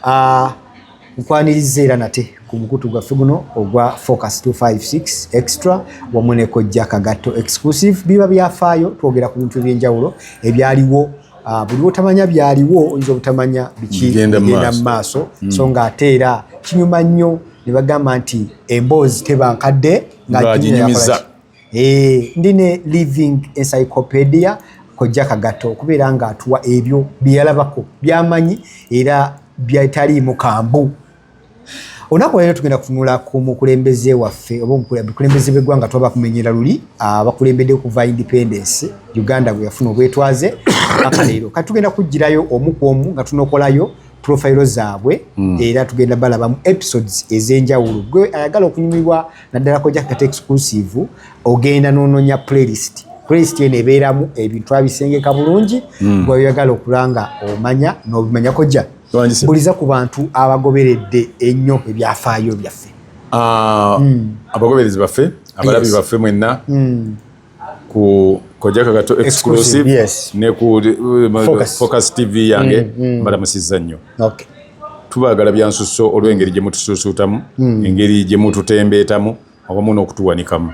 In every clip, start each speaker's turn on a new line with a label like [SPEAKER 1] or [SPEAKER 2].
[SPEAKER 1] ah, nkwaniriza era nate ku mukutu gwaffe guno ogwa focus 256 extra wamu ne kojja kagatto exclusive biba byafaayo twogera ku bintu ebyenjawulo ebyaliwo ah, buli otamanya byaliwo oyinza obutamanya bikigenda mu maaso hmm. so nga ate era kinyuma nnyo ne bagamba nti emboozi teba nkadde ngaginyumiza
[SPEAKER 2] Eh,
[SPEAKER 1] ndi ne living encyclopedia kojja kagato okubeera nga atuwa ebyo byeyalabako byamanyi era byetaliimu kambu olunaku leero tugenda kutunula ku mukulembeze waffe oba omukulembeze bweggwanga tuba bakumenyera luli abakulembedde okuva independence uganda bwe yafuna obwetwaze aka leero kati tugenda kugirayo omu ku omu nga tunokolayo profayiro zaabwe hmm. era tugenda balabamu episodes ez'enjawulo gwe ayagala okunyumirwa naddala kojja kata exclusive ogenda nononya playlist playlist eno ebeeramu ebintu abisengeka bulungi mm. gweoyagala okulanga omanya nobimanya kojja buliza ku bantu abagoberedde ennyo ebyafaayo byaffe ah, mm. abagoberezi
[SPEAKER 2] baffe abalabi baffe mwenna mm. ku kojja kagato exclusive yes. ne ku uh, focus. focus tv yange mm, mm. mbalamusizza nnyo okay. tubagala byansusso olw'engeri gye mutusuusuutamu mm. engeri gye mututembeetamu awamu n'okutuwanikamu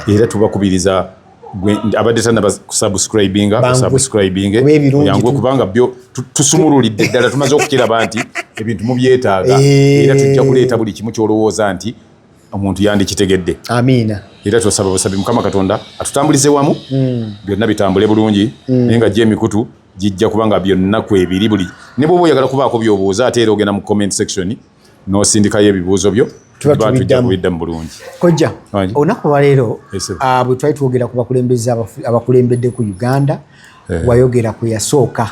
[SPEAKER 2] era tubakubiriza abadde tanakusubscribinga subscribinge yangu kubanga byo tusumululidde ddala tumaze okukiraba nti ebintu mubyetaaga eh. era tujja kuleeta buli kimu kyolowooza nti omuntu yandikitegedde amiina era
[SPEAKER 1] twasaba busabi
[SPEAKER 2] mukama katonda atutambulize wamu mm. byonna bitambule bulungi mm. naye nga gye emikutu gijja kubanga byonna kwebiri buli ne bwoba oyagala kubaako byobuuza ate era ogenda mu comment section nosindikayo ebibuuzo byo tujja kubiddamu bulungi kojja
[SPEAKER 1] olunaku olwaleero ah, bwe twali twogera ku bakulembeze abakulembedde ku uganda eh. wayogera ku yasooka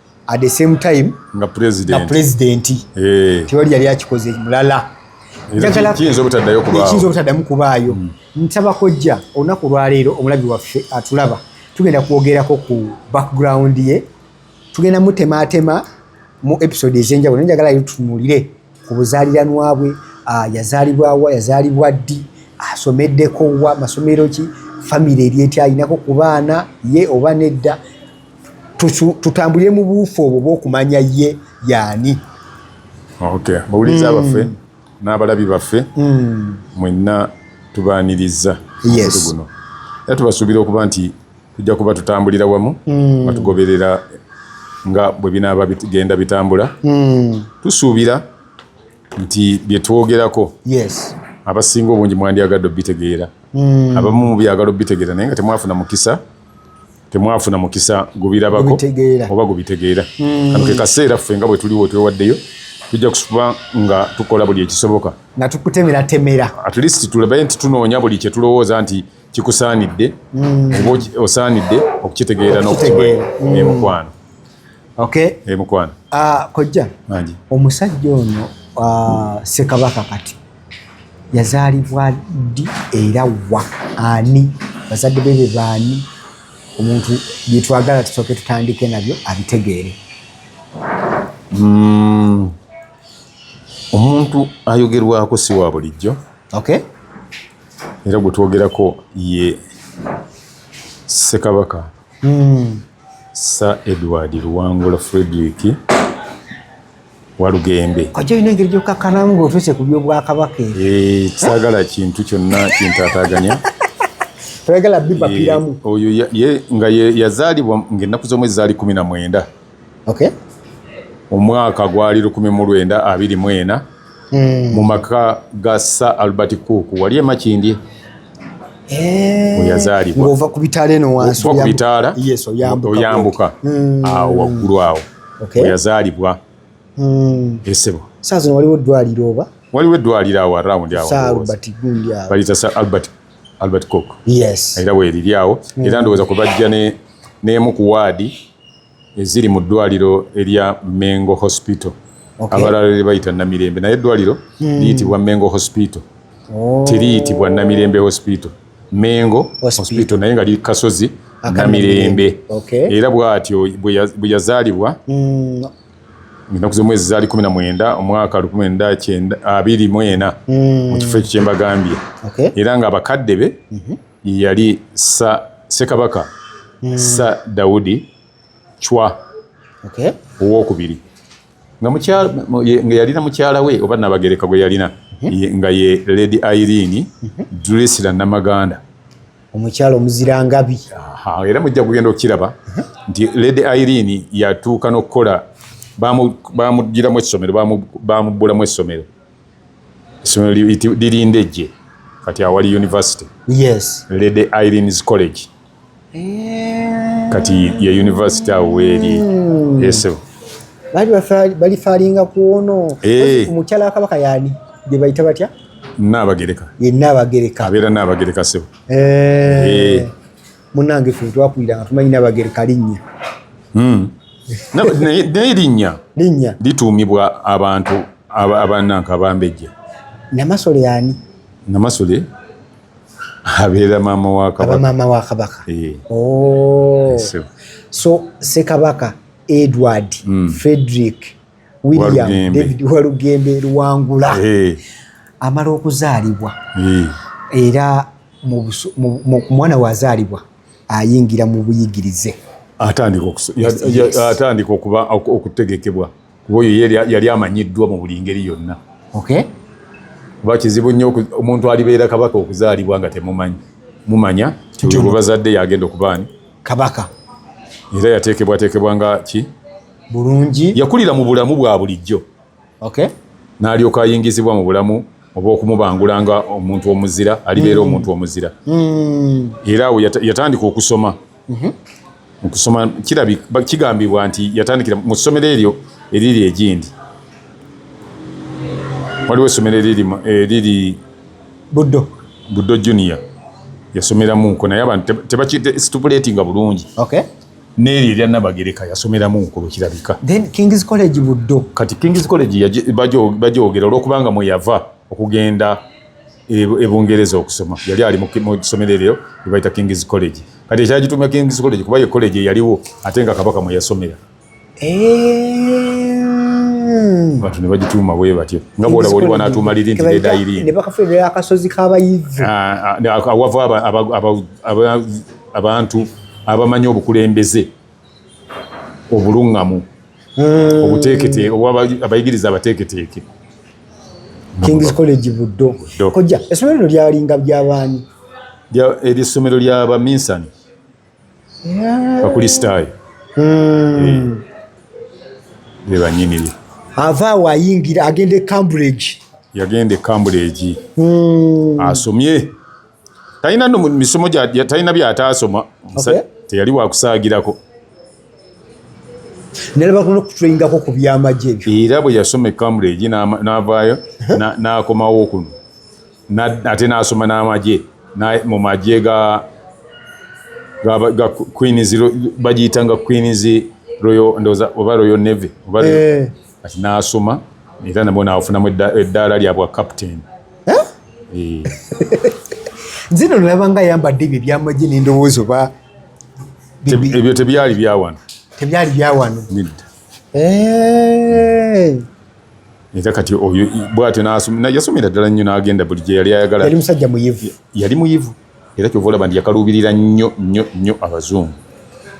[SPEAKER 1] at the same time nga president nga
[SPEAKER 2] president eh tiwali
[SPEAKER 1] yali akikoze mulala njagala kinzo
[SPEAKER 2] butadayo kubayo kinzo
[SPEAKER 1] butadamu kubayo mm. ntaba kojja onaku lwa leero omulabi waffe atulaba tugenda kwogerako ku background ye tugenda mutematema mu episode ezenjawulo njagala yo tunulire ku buzaliranwa bwe ah, yazalibwa wa yazalibwa ddi asomeddeko wa masomero ki famire eryetya ayinako ku baana ye oba nedda tutambulire mu buufu obwo bwokumanya ye yaani okay.
[SPEAKER 2] bawuliza mm. baffe n'abalabi baffe mm. mwenna tubaaniriza yes. guno era tubasuubira okuba nti tujja kuba tutambulira wamu mm. batugoberera nga bwe binaaba bigenda bitambula mm. tusuubira nti bye twogerako yes. abasinga obungi mwandyagadde obitegeera mm. abamu mubyagala obitegeera naye nga temwafuna mukisa temwafuna mukisa gubirabako oba gubitegeera hmm. kano ke kaseera ffe nga bwe tuliwo twewaddeyo tujja kusuba nga tukola buli ekisoboka nga tukutemera
[SPEAKER 1] temera at least tulabe
[SPEAKER 2] nti tunoonya buli kye tulowooza nti kikusaanidde hmm. oba osaanidde okukitegeera n'okukitegeera hmm. emukwano okay emukwano ah, kojja
[SPEAKER 1] omusajja ono ah, sekabaka kati yazaalibwa ddi era wa ani bazadde be be baani omuntu byetwagala tusooke tutandike nabyo abitegeere mm,
[SPEAKER 2] omuntu ayogerwako si wa bulijjo okay. era gwe twogerako ye ssekabaka mm. sir edward luwangula frederick walugembe kojja olina engeri gyokakkana
[SPEAKER 1] nga otuuse ku byobwakabaka eh, kisagala
[SPEAKER 2] kintu kyonna kintataganya
[SPEAKER 1] toyagala bibapiramu eh, oyo
[SPEAKER 2] nga yazaalibwa ngaennaku z'omu ezaali kumi na mwenda omwaka gwali lukumi mu lwenda abiri mu ena hmm. mu maka ga sa albert cook wali emakindye eh, yazaalibwa ova ku bitaala eno
[SPEAKER 1] wansi
[SPEAKER 2] oyambuka hmm. awo waggulu awo okay. yazaalibwa mm. esebo saa zino waliwo
[SPEAKER 1] eddwaliro oba waliwo eddwaliro awo
[SPEAKER 2] around awobalita sa albert albert cook yes. era weeriri awo mm. era ndowooza kubajja n'emu ku waadi eziri mu ddwaliro erya mengo hospital okay. abalala lebayita namirembe naye eddwaliro mm. liyitibwa mengo hospital oh. teriyitibwa namirembe hospital Mengo hospital naye nga liri kasozi na mirembe era bwatyo bwe yazalibwa mm. ennaku z'omwezi zaali kumi na mwenda omwaka lukumi mwenda kyenda abiri mu ena mm. mu kifo ekyo kyembagambye era nga abakadde be mm-hmm. yali sa sekabaka mm. sa daudi chwa owokubiri nga yalina mukyala we oba nabagereka gwe yalina mhm. nga ye lady irene mhm. dresla namaganda omukyala
[SPEAKER 1] omuzirangabi era mujja
[SPEAKER 2] kugenda okukiraba mhm. nti lady irene yatuuka n'okukola bamugiramu essomero bamubbulamu essomero essomero lirindejje kati awali university yes lady irene's college Eh. kati ye university awo weeri hmm. esebo
[SPEAKER 1] balifaalinga kuono eh. omukyala wakabaka yaani gye bayita batya naabagereka
[SPEAKER 2] ye naabagereka
[SPEAKER 1] abeera naabagereka
[SPEAKER 2] sebo eh.
[SPEAKER 1] munange fe twakulira nga tumanyi naabagereka linnya hmm.
[SPEAKER 2] naye linnya linnya lituumibwa abantu abananka abambejja namasole
[SPEAKER 1] yaani namasole
[SPEAKER 2] abeera maama wa kabaka aba maama wa kabaka
[SPEAKER 1] eh. oh. eh, so sekabaka edward mm. frederick william Walugembe. david walugembe luwangula hey. Eh. amala okuzaalibwa hey. era mwana wazaalibwa ayingira mu buyigirize
[SPEAKER 2] atandika okutegekebwa kuba oyo yali amanyiddwa mu buli ngeri yonna kuba kizibu nnyo omuntu alibeera kabaka okuzaalibwa nga temumanyi mumanya tiwe bazadde yagenda okubaani kabaka
[SPEAKER 1] era
[SPEAKER 2] yateekebwateekebwa nga ki bulungi
[SPEAKER 1] yakulira mu bulamu
[SPEAKER 2] bwa bulijjo n'alyoka ayingizibwa mu bulamu oba okumubangula nga omuntu omuzira alibeera mm. omuntu omuzira mm. era awo yatandika okusoma mhm. okusoma kirabika kigambibwa nti yatandikira mu ssomero eryo eriri egindi waliwo essomero eriri eriri buddo buddo junior yasomeramuko naye abantu tebakisitupuletinga bulungi okay. neeri erya nabagereka yasomeramu nkulo kirabika kings college
[SPEAKER 1] buddo kati kings college
[SPEAKER 2] bajogera olwokubanga mweyava okugenda e, e Bungereza okusoma yali ali mu ssomero eryo lye bayita King's College kati ekyali gitumya King's College kuba ye college eyaliwo ate nga Kabaka mwe yasomera abantu ne bagituuma bwe batyo nga bwolaba oli wanaatuuma liri nti nedayiri ne bakafuulira akasozi
[SPEAKER 1] k'abayivu ah, ah, awava
[SPEAKER 2] abantu abamanyi obukulembeze obuluŋŋamu hmm. obuteekete oba abayigiriza abateeketeeke
[SPEAKER 1] kings college buddo kojja essomero lino lyalinga byabaani eryo
[SPEAKER 2] essomero lya baminsani bakulisitaayo hmm. eh. ebanyiniri ava awo ayingira agenda
[SPEAKER 1] e cambridge yagenda e
[SPEAKER 2] cambridge hmm. asomye talina no misomo talina byataasoma teyali wakusaagirako
[SPEAKER 1] nalabakutulingako ku byamagye ebyo era bwe yasoma ecambridge
[SPEAKER 2] navaayo nakomawo kuno ate nasoma n'amagye mu magye ga queens bagiyitanga queens oba royal navy eh. kati n'asoma era nabwo naafunamu eddaala lya bwa captain eh?
[SPEAKER 1] zino nolaba nga ayambadde ebyo ebyamagye n'endowooza oba
[SPEAKER 2] ebyo tebyali byawano tebyali byawano
[SPEAKER 1] eh.
[SPEAKER 2] era kati oyo bwatyo yasomera ddala nnyo n'agenda buli gye yali ayagala yali musajja muyivu
[SPEAKER 1] yali muyivu
[SPEAKER 2] era kyova olaba nti yakaluubirira nnyo nnyo nnyo abazungu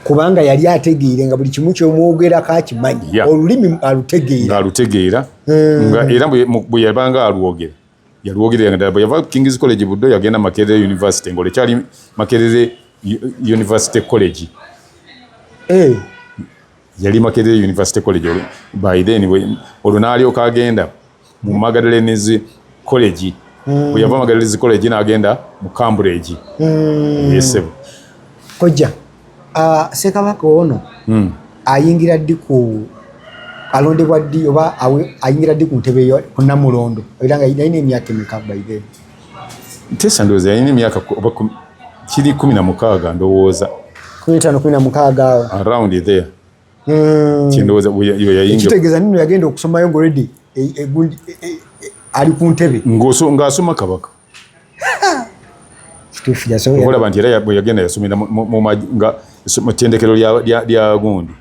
[SPEAKER 2] kubanga
[SPEAKER 1] yali ategeere nga buli kimu kyomwogerako akimanyi olulimi alutegeeraalutegeera
[SPEAKER 2] hmm. nga era bwe yabanga alwogera yalwogerera nga bwe yava kings college buddo yagenda makerere university ngaole kyali makerere university college eh. yali makerere university college olwo by then olwo n'alyoka agenda mu magadalenez college hmm. bwe yava magadalenez college n'agenda mu cambridge hmm. yesebo
[SPEAKER 1] kojja ah, sekabaka ono hmm. ayingira ddi ku alondebwa ddi oba ayingira ddi ku ntebe ku namulondo era nga yalina emyaka emeka by then Tesa
[SPEAKER 2] ndowooza yalina emyaka kiri kumi na mukaaga ndowooza kumi etaano kumi na mukaaga
[SPEAKER 1] awo around there
[SPEAKER 2] hmm. kindowooza yayingekitegeeza nino yagenda okusomayo
[SPEAKER 1] nga olredi e, e, e, ali
[SPEAKER 2] ku ntebe
[SPEAKER 1] ng'asoma kabaka
[SPEAKER 2] olaba nti era bweyagenda yasomera mu tendekero lya gundi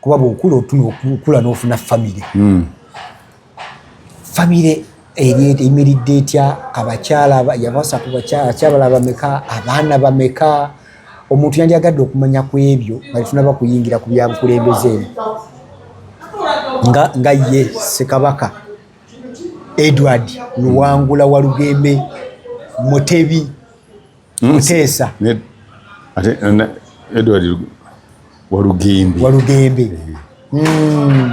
[SPEAKER 1] kuba bwokula otunokula nofuna famire hmm. famire eyimiridde etya abakyala yabasa ku bakyala bameka abaana bameka omuntu yandyagadde okumanya ku ebyo balitunaba kuyingira ku byabukulembeze eno nga ye sekabaka edward luwangula walugembe mutebi Muteesa. Ne ate na
[SPEAKER 2] Edward Walugembe. Walugembe. Eh. Mm.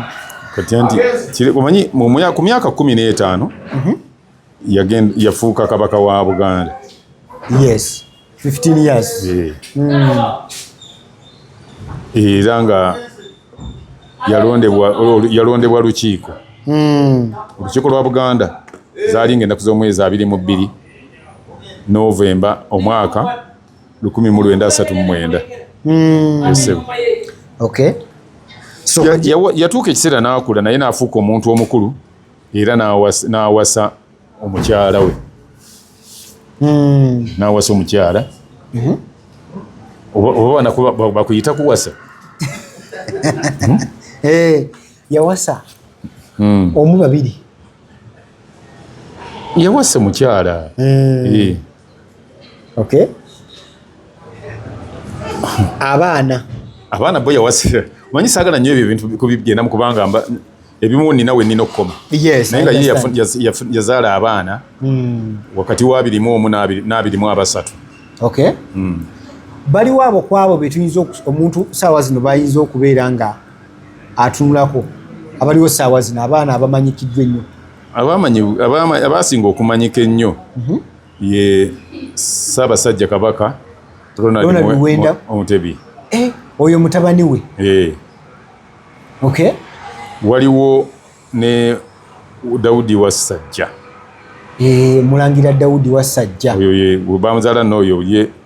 [SPEAKER 2] Kati anti kile kumanyi mu ku myaka 15 mm -hmm. yagenda yafuuka kabaka wa Buganda. Yes. 15
[SPEAKER 1] years. Eh.
[SPEAKER 2] Mm. Era nga yalondebwa yalondebwa lukiiko. Mm. Lukiiko lwa Buganda. Zaali ng'ennaku z'omwezi abiri mu bbiri. November omwaka lukumi mu lwenda asatu mu mwenda hmm.
[SPEAKER 1] esebo
[SPEAKER 2] yatuuka ekiseera n'akula naye n'afuuka omuntu omukulu era n'awasa omukyala we hmm. n'awasa omukyala mhm. oba banako bakuyita kuwasa
[SPEAKER 1] hmm? eh, yawasa omu babiri
[SPEAKER 2] yawasa mukyala mm. eh.
[SPEAKER 1] okay. abaana abaana bo yawasa manyi
[SPEAKER 2] sagala nyo ebyo ebintu kubigenda mukubanga mba ebimu nina we nina okukoma yes, naye nga ye yazaala abaana mm. wakati wa abirimu omu n'abirimu abasatu okay. mm.
[SPEAKER 1] baliwo abo kwabo betuyinza omuntu saawa zino bayinza okubeera nga atunulako abaliwo saawa zino abaana abamanyikiddwa ennyo
[SPEAKER 2] abaasinga okumanyika ennyo mhm. ye ssaabasajja kabaka ronald muwenda omutebi eh, oyo
[SPEAKER 1] mutabani we eh. okay waliwo
[SPEAKER 2] ne daudi wassajja eh,
[SPEAKER 1] mulangira daudi wassajja oyo ye bamuzala
[SPEAKER 2] nooyo ye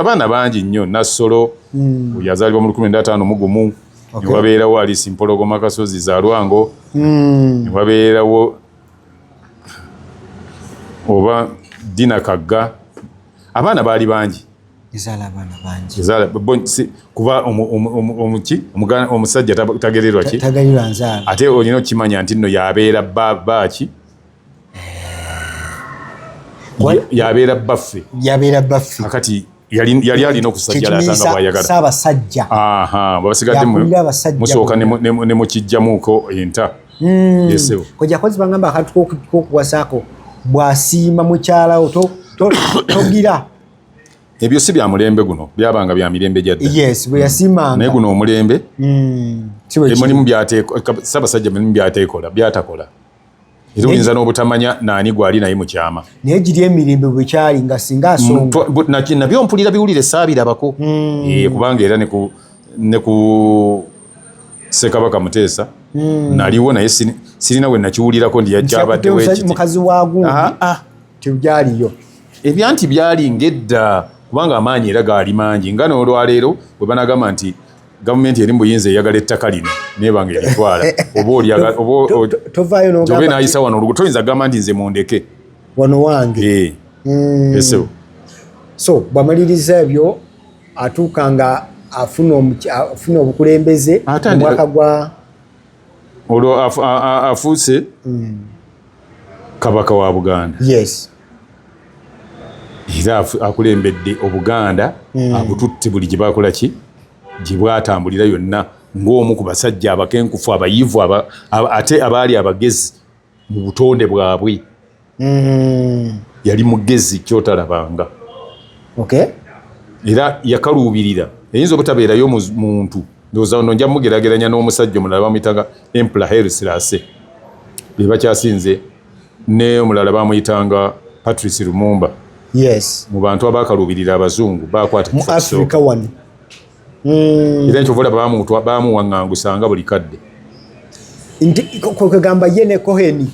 [SPEAKER 2] abaana bangi nnyo nassolo hmm. yazaalibwa mu lukumi ndatano mugumu newabeerawo alisi mpologoma kasozi za lwango hmm. newabeerawo oba dina kagga abaana baali bangi kuba omuki omusajja tagererwa ki ate olina okukimanya nti nno yabeera baaki yabeera bbaffe yabeera bbaffe akati yali alina okusajjala
[SPEAKER 1] atanga bwayagala
[SPEAKER 2] saabasajja musooka ne mukijjamuuko enta hmm. esebo
[SPEAKER 1] kojja kozi bangamba akantu kokuwasaako bwasiima mukyalawo togira
[SPEAKER 2] ebyo si bya mulembe guno byabanga bya mirembe gya dda yes bwe yasimanga
[SPEAKER 1] naye guno omulembe
[SPEAKER 2] mm. emulimu byateeka sabasajja mulimu byateekola byatakola era oyinza n'obutamanya naani gwali naye mukyama naye giri emirembe
[SPEAKER 1] bwekyali nga singa asonganabyo mpulira
[SPEAKER 2] biwulire saabirabako hmm. eh, kubanga era ne ku sekabaka muteesa hmm. naliwo naye sirina we nakiwulirako ndi yajabaddemukazi wagundi ah,
[SPEAKER 1] ah. tebyaliyo ebyanti
[SPEAKER 2] byali ngedda kubanga amaanyi era gaali mangi nga n'olwaleero bwe banagamba nti gavumenti eri mubuyinza eyagala ettaka lino neba nga eritwala obaobe nayisa wano olugu toyinza gamba nti nze mundeke wano wange
[SPEAKER 1] eh. hmm. esebo so bwamaliriza ebyo atuuka nga afuna obukulembeze omwaka gwa
[SPEAKER 2] olwo afuuse hmm. kabaka wa buganda yes
[SPEAKER 1] era
[SPEAKER 2] akulembedde obuganda hmm. abututte buli gye bakola ki gye bwatambulira yonna ng'omu ku basajja abakenkufu abayivu ate abaali abagezi mu butonde bwabwe hmm. yali mugezi kyotalabanga era yakaluubirira eyinza obutabeerayo muntu ndowooza ono nja mugerageranya n'omusajja omulala bamuyitanga empla helsirase be bakyasinze Ne omulala bamuyitanga Patrice Lumumba. Yes. Mu
[SPEAKER 1] bantu abakaluubirira
[SPEAKER 2] abazungu baakwata mu Africa wano.
[SPEAKER 1] Mm.
[SPEAKER 2] Era ekyo volaba bamutwa bamuwang'angusa nga buli kadde. Nti kwegamba
[SPEAKER 1] ye ne Cohen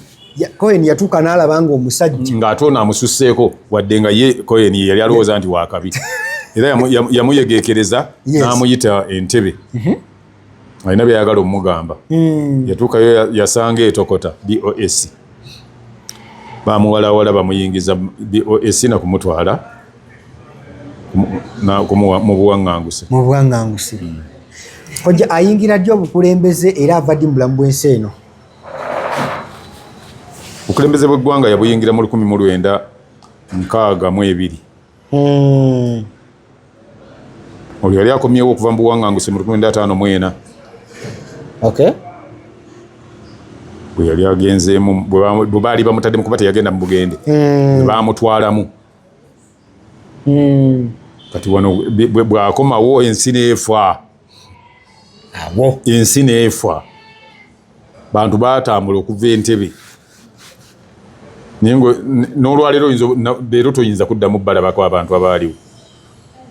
[SPEAKER 1] Cohen yatuuka n'alaba nga omusajja ng'ate ono amususseeko
[SPEAKER 2] wadde nga ye Cohen ye yali alowooza nti wakabi era yamuyegeekereza n'amuyita entebe. Mm -hmm. alina byayagala omugamba hmm. yatuukayo yasanga etokota bos bamuwalawala bamuyingiza bos nakumutwala mubuwaŋanguse mubuwaŋanguse hmm. oja ayingira ddi obukulembeze era ava ddi mubulamu bwensi eno obukulembeze bweggwanga yabuyingira mu lukumi mu lwenda nkaaga mu ebiri Hmm. Oyo yali akomyewo okuva mu buwanganguse mu lukumi ataano mu ena.
[SPEAKER 1] Okay.
[SPEAKER 2] Bwe yali agenzeemu bwe baali bamutaddemu kuba teyagenda mu bugende. Hmm. Bwe baamutwalamu. Hmm. Kati wano bw'akomawo ensi n'efa. Awo. Ensi n'efa. bantu batambula okuva entebe naye nolwaleero leero toyinza kuddamu balabako abantu abaaliwo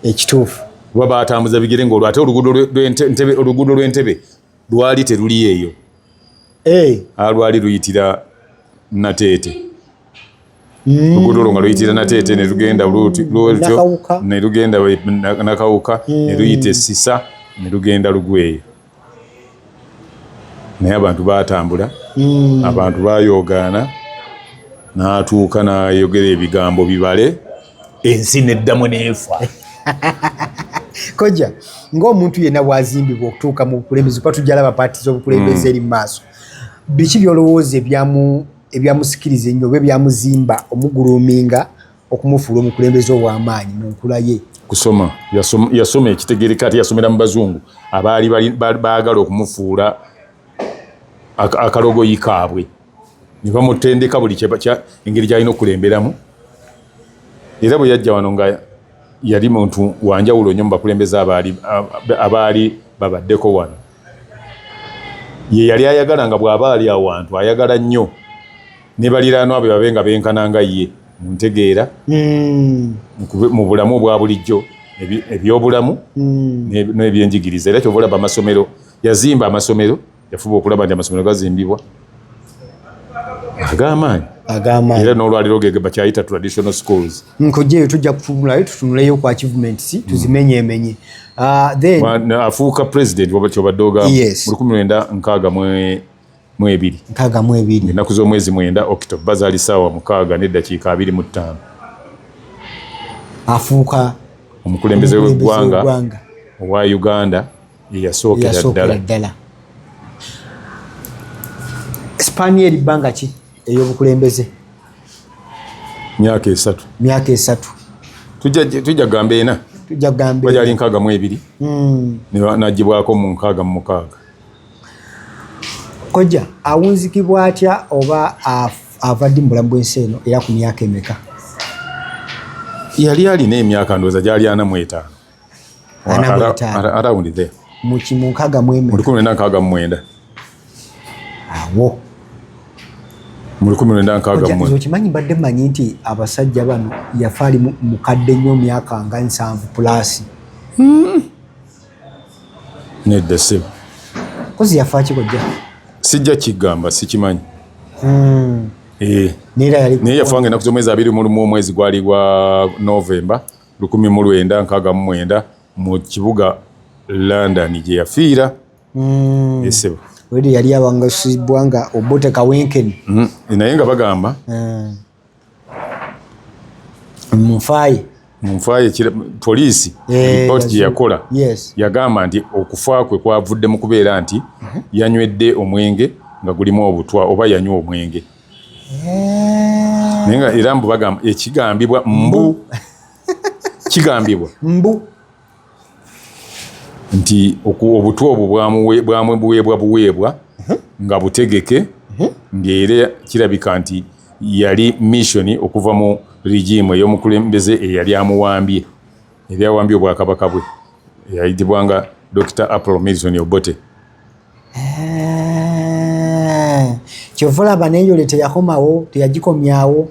[SPEAKER 1] ekituufu kuba batambuza
[SPEAKER 2] bigere ngaolwo ate oluguudo lw'entebe lwali teruli eyo eh. alwali luyitira nateete luguudo olwo nga luyitira nateete nelugenda lutyo nelugenda nakawuka neluyita essisa nelugenda lugweeyo naye abantu batambula hmm. abantu bayoogaana natuuka nayogera ebigambo bibale ensi neddamu neefa koja
[SPEAKER 1] ngaomuntu yenna bwazimbibwa okutuuka mu bukulembeze kuba tujalaba paati zobukulembeze hmm. eri mu maaso biki byolowooza ebyamu ebyamusikiriza ennyo oba ebyamuzimba omuguluminga okumufuula omukulembeze ow'amaanyi mu nkula ye kusoma
[SPEAKER 2] yasoma ekitegereka ati yasomera mu bazungu abaali baagala okumufuula akalogoyi kaabwe ne bamutendeka buli engeri gyalina okulemberamu era bwe yajja wano nga Yali muntu wa njawulo nnyo mu bakulembeze abaali abaali babaddeko wano. Ye yali ayagala nga bw'aba ali awantu ayagala nnyo ne baliraanwa be babe nga benkana nga ye mu ntegeera, hmm. mu bulamu obwa bulijjo, ebyobulamu hmm. n'ebyenjigiriza. Era kyova olaba amasomero, yazimba amasomero. Yafuba okulaba nti amasomero gazimbibwa ag'amaanyi ag'amaanyi era n'olwaliro ge bakyayita traditional schools nkojjeeyo tujja
[SPEAKER 1] kutunulayo tutunuleyo kwa achievements tuzimenyemenye ah, then
[SPEAKER 2] afuuka president waba kyobadde ogamba yes. mu lukumi lwenda nkaaga mwe mwebiri nkaaga mwebiri ennaku z'omwezi mwenda october bazaali saawa mukaaga n'eddakiika abiri mu ttaano
[SPEAKER 1] afuuka omukulembeze
[SPEAKER 2] w'eggwanga owa uganda eyasookera ddala
[SPEAKER 1] sipaani eri bbanga ki ey'obukulembeze
[SPEAKER 2] myaka esatu myaka esatu tujja gamba ena tujja gamba bajali
[SPEAKER 1] nkaaga mu ebiri
[SPEAKER 2] hmm. najibwako mu nkaaga mu mukaaga
[SPEAKER 1] koja awunzikibwa atya oba avadde mu bulamu bw'ensi eno era ku myaka emeka yali
[SPEAKER 2] alina emyaka ndowooza gyali ana mu etaano okimanyi mbadde manyi
[SPEAKER 1] nti abasajja bano yafa ali mukadde nnyo myaka nga nsanvu pulasi hmm.
[SPEAKER 2] nedda sebo kozi yafa
[SPEAKER 1] kikojja sijja
[SPEAKER 2] kigamba sikimanyi hmm.
[SPEAKER 1] eh. naye yafa nga enaku zomwezi abiri
[SPEAKER 2] mulumu omwezi gwali gwa novemba lukumi mu lwenda nkaaga mu mwenda mu kibuga London gye yafiira mm. esebo wede yali
[SPEAKER 1] abangasibwa nga obote kawenkeni mm. naye nga
[SPEAKER 2] bagamba
[SPEAKER 1] mm. munfaaye munfaaye
[SPEAKER 2] poliisi eh, ripooti gye yakola yagamba nti okufa kwe kwavudde mu kubeera nti mm-hmm. yanywedde omwenge nga gulimu obutwa oba yanywa omwenge Eh. naye nga era mbu bagamba ekigambibwa mbu kigambibwa mbu nti obutwa obwo bwamwe buweebwa buweebwa mhm. nga butegeke mhm. ng'era kirabika nti yali missioni okuva mu rigimu ey'omukulembeze eyali amuwambye ebyawambye obwakabaka bwe eyayitibwanga dr apple milton obote
[SPEAKER 1] kyova olaba neyole teyakomawo teyagikomyawo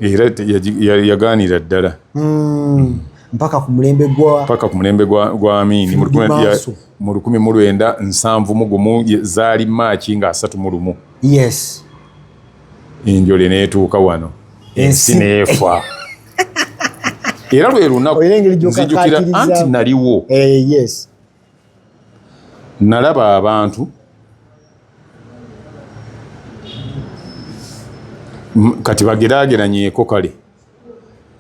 [SPEAKER 2] yagaanira ddala hmm.
[SPEAKER 1] mpaka ku mulembe gwa mpaka ku mulembe gwa
[SPEAKER 2] gwa amini mu lukumi ya mu lukumi mu lwenda nsanvu mu gumu zaali maaki nga asatu mu lumu yes enjole neetuuka wano ensi neefa era lwe lunaku nzijukira anti naliwo eh, yes Nalaba abantu kati bagerageranyeko kale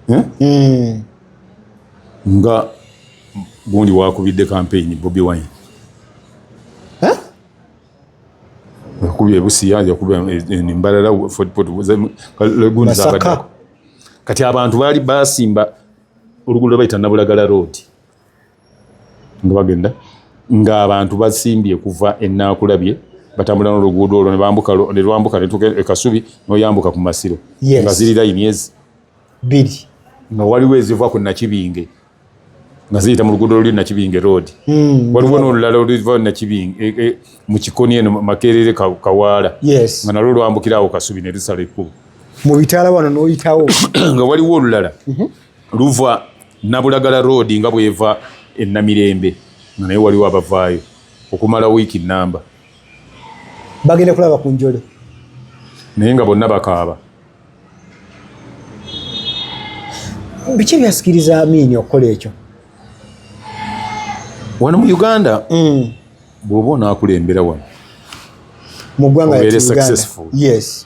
[SPEAKER 2] eh? hmm. nga gundi wakubidde kampeyini bobi wine eh? yakuba ebusiya yakuba embalala fodpotlegundizabaddako kati abantu baali basimba oluguudo lwebayita nabulagala road nga bagenda ng'abantu basimbye kuva enaakulabye batambula n'oluguudo olwo nebambuka nelwambuka netuuka ekasubi noyambuka ku masiro nga ziri layini ezi biri
[SPEAKER 1] nga waliwo
[SPEAKER 2] eziva ku nakibinge nga ziyita mu luguudo luli nakibinge road hmm, waliwo n'olulala oluva nakibinge e, e, mu kikoni eno makerere kawaala nga nalwo lwambukirawo kasubi ne lusala ekkubo mu bitaala wano
[SPEAKER 1] n'oyitawo nga waliwo
[SPEAKER 2] olulala mhm. Luva Nabulagala Road nga bw'eva e Namirembe nga naye waliwo abavaayo okumala wiiki nnamba.
[SPEAKER 1] Bagenda kulaba ku njole. Naye
[SPEAKER 2] nga bonna bakaaba.
[SPEAKER 1] Biki ebyasikiriza Amiini okukola ekyo?
[SPEAKER 2] Wano mu Uganda mm. bw'oba onaakulembera wano
[SPEAKER 1] mu ggwanga yatuganda
[SPEAKER 2] yes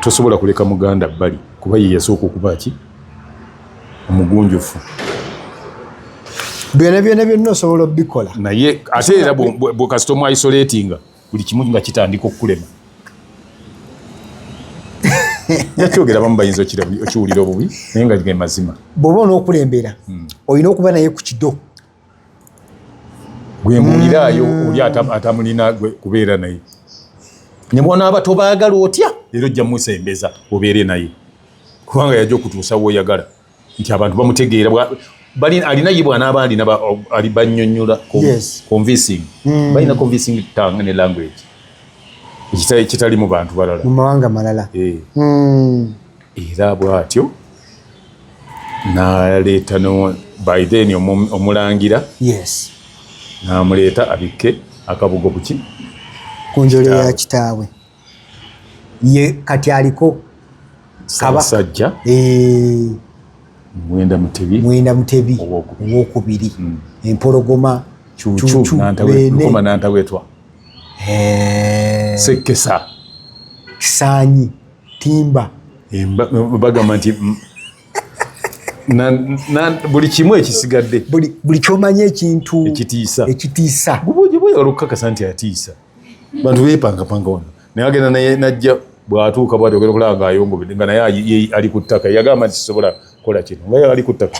[SPEAKER 2] tosobola kuleka muganda bbali kuba ye yasooka okuba ki omugunjufu
[SPEAKER 1] byona byona byonna osobola obikola naye ate era
[SPEAKER 2] bwekasita omwaisoletinga buli kimu nga kitandika okukulema nakyogera bamu bayinza okiwulira obubi naye nga ge mazima bwoba onokulembera
[SPEAKER 1] hmm. olina okuba naye ku kido
[SPEAKER 2] gwe mbuuliraayo mm. oli atamulina gwe kubeera naye ne bwonaaba tobaagala otya era ojja musembeza obeere naye kubanga yajja okutuusa woyagala nti abantu bamutegeera alina ye bwanaaba alina banyonyola convincing mm. balina convincing tang ne language ekitali mu bantu balala mu mawanga malala
[SPEAKER 1] eh. mm. era
[SPEAKER 2] bwatyo naleeta no by then omulangira yes namuleeta abikke akabugo kuki ku njole
[SPEAKER 1] ya kitaawe ye kati aliko sabasajja
[SPEAKER 2] eh. mwenda mutebi mwenda mutebi owokubiri
[SPEAKER 1] hmm. empologoma
[SPEAKER 2] cucunkoma nantawetwa eh. sekkesa
[SPEAKER 1] kisanyi timba eh,
[SPEAKER 2] bagamba nti buli kimu ekisigadde buli kyomanya
[SPEAKER 1] ekintu ekitiisa ekitiisa
[SPEAKER 2] olukukakasa nti atiisa bantu bepangapanga wano naye agenda naye najja bwatuuka bwati ogenda okulaba nga ayongobedde nga naye ali ku ttaka yagamba nti sisobola kukola kino nga ali ku ttaka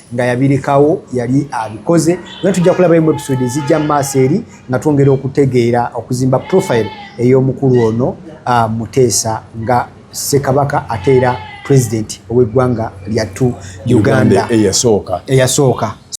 [SPEAKER 1] nga yabirekawo yali abikoze naye tujja kulabayo mu episode ezijja mu maaso eri nga twongera okutegeera okuzimba profile ey'omukulu ono uh, muteesa nga ssekabaka ate era president ow'eggwanga lyattu uganda eyasooka eyasooka